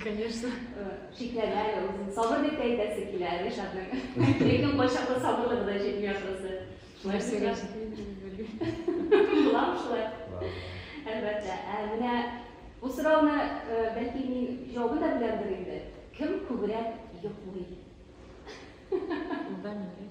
Конечно. Шикләнә узын. Сабыр дип әйтәсе килә Ришатның. Ләкин кайчакта сабырлыгы да җитми ахрысы. Шулай сөйләш. Буламы шулай? Әлбәттә. Ә менә бу сорауны бәлки мин җавабын да беләмдер инде. Кем күбрәк йоклый? Ул да мин.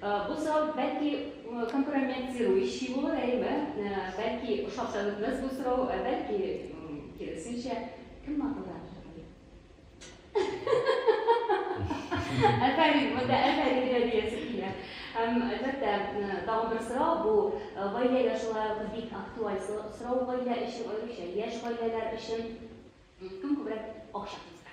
Бу сорау, бәлки, компрометирующий булыр, әйеме? Бәлки, ошап та бетмәс бу сорау, ә бәлки, киресенчә, кем маңгылдагы шагыйрь? Афәрин, монда афәрин генә диясе килә. Һәм, әлбәттә, тагын бер сорау, бу гаилә яшьларыбыз бик актуаль сорау гаилә өчен, аеруча яшь гаиләләр өчен. Кем күбрәк акча тузга?